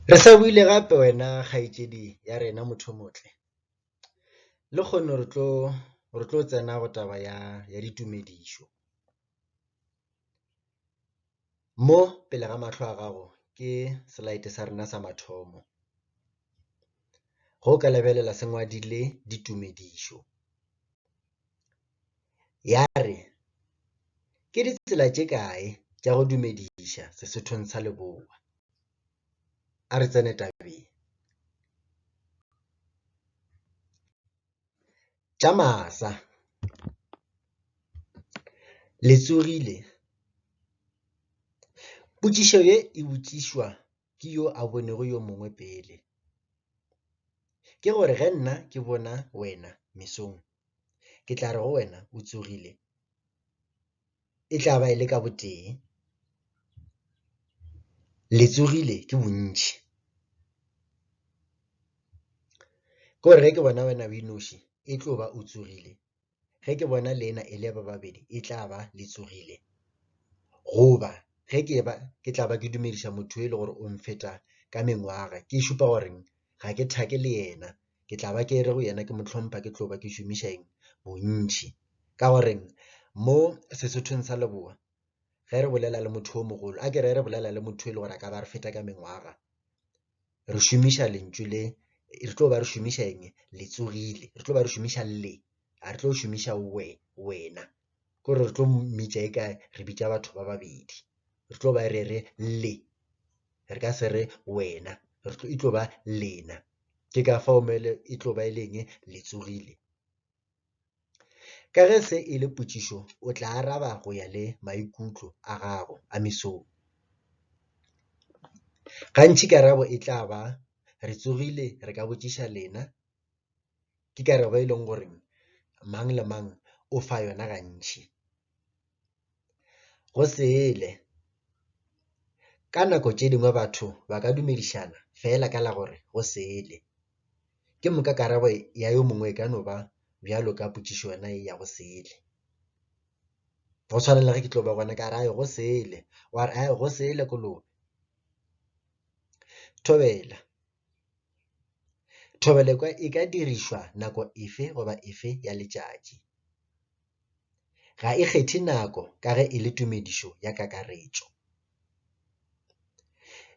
Re sa buile gape wena kgaetšedi ya rena Mothomotle. Lekgono re tlo re tlo tsena go taba ya ya ditumedišo. Mo pele ga mahlo a gago ke slide sa rena sa mathomo. Go ka lebelela se ngwadile ditumedišo. ya re, Ke ditsela tše kae tša go dumediša Sesothong sa Leboa? A re tsene tabeng. Tša masa, le tsogile? Potšišo ye e botšišwa ke yo a bonego yo mongwe pele, ke gore ge nna ke bona wena mesong Ke tla re go wena, O tsogile. E tla ba e le ka botee. Le tsogile ke bontši. Ke gore ge ke bona wena o inoši, e tlo ba o tsogile. Ge ke bona lena e le ba babedi, e tla ba le tsogile. Goba ge ke ba, ke tla ba ke dumediša motho yo e lego gore o nfeta ka mengwaga, ke šupa gore ga ke thake le yena, ke tla ba ke re go yena ke mo hlompha ke tlo ba ke šomiša eng bontši ka gore mo sesothong sa leboa ge re bolela le motho o mogolo a ke re re bolela le motho e le gore a ka ba re feta ka mengwaga re šomiša lentšu le re tlo ba re šomiša eng le tsogile re tlo ba re šomiša le a re tlo šomiša we wena ke gore re tlo mmitša e ka re bitša batho ba babedi re tlo ba re re le re ka se re wena re tlo e tlo ba lena ke ka fao mele e tlo ba e leng le tsogile ka ge se e le potšišo o tla araba go ya le maikutlo a gago a mesong gantši karabo e tla ba re tsogile re ka botšiša lena ke karabo e leng gore mang le mang o fa yona gantši. Go sele. Ka nako tše dingwe batho ba ka dumedišana fela ka la gore go sele. Ke moka karabo ya yo mongwe e ka no ba bjalo ka potšišo yona ye ya go sele. Go tshwana le ge ke tlo ba gona ka re ae go sele, wa re ae go sele kolobe. Thobela. Thobela e ka dirišwa nako efe goba efe ya letšatši. Ga e kgethe nako ka ge e le tumedišo ya kakaretšo.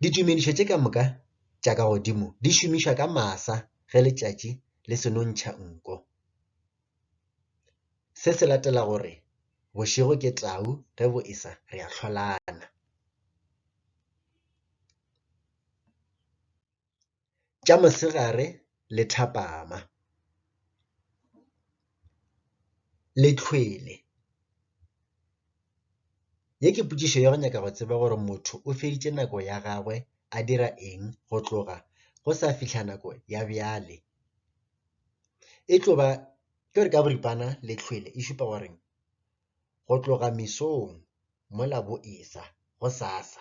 Ditumedišo tše ka moka tša ka godimo di šomišwa ka masa ge letšatši le seno ntšha nko. Se se latela go re, Bošego ke tau ge bo e sa re a hlolana. tša mosegare le thapama, le tlhwele. Ye ke potšišo ya go nyaka go tseba gore motho o feditše nako ya gagwe a dira eng go tloga go sa fihla nako ya bjale. E tlo ba, ke gore ka boripana le tlhwele e šupa gore . go tloga mesong mola bo e-sa, gosasa,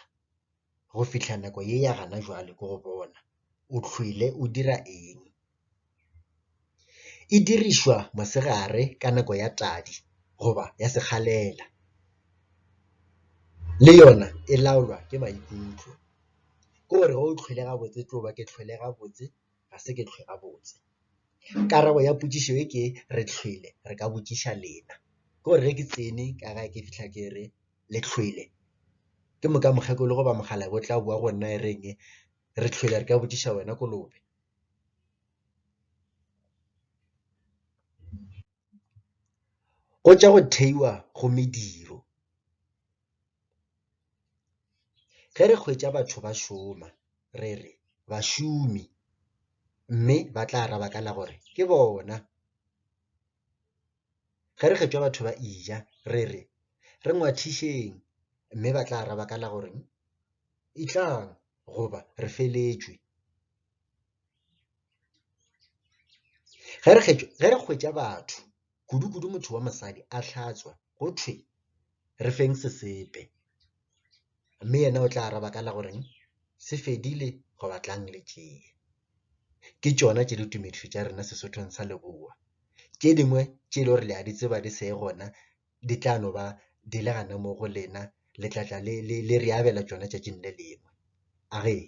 go fihla nako ye ya gana jwale ke go bona o hlwele o dira eng. E dirišwa mosegare ka nako ya tadi goba ya sekgalela, le yona e laolwa ke maikutlo, ke gore ge o hlwele gabotse e tlo ba ke hlwele gabotse. ga se ke hlwe gabotse. Karabo ya potšišo e ke re hlwele re ka botšiša lena. Ke gore ge ke tsene ka gae ke fihla ke re, le hlwele? Ke moka mokgekolo goba mokgalabje o tla boa go nna e reng, re hlwele re ka botšiša wena kolobe. Go tša go theiwa go mediro. Ge re hwetša batho ba šoma, re re, Bašomi, mme ba tla araba ka la gore, Ke bona. Ge re hwetša batho ba eja, re re, Re ngwathišeng, mme ba tla araba ka la gore, Etlang, goba, Re feletšwe. Ge re hwetša batho, kudukudu motho wa mosadi a hlatswa, go thwe re feng sesepe, mme yena o tla araba ka la gore se fedile goba tlang le tšee. Ke tšona tše ditumedišo tša rena Sesothong sa Leboa. Tše dingwe tše e le gore le a di tseba di se gona di tla no ba di le gona mo go lena, le tla tla le re abela tšona tšatšing le lengwe. A re ee.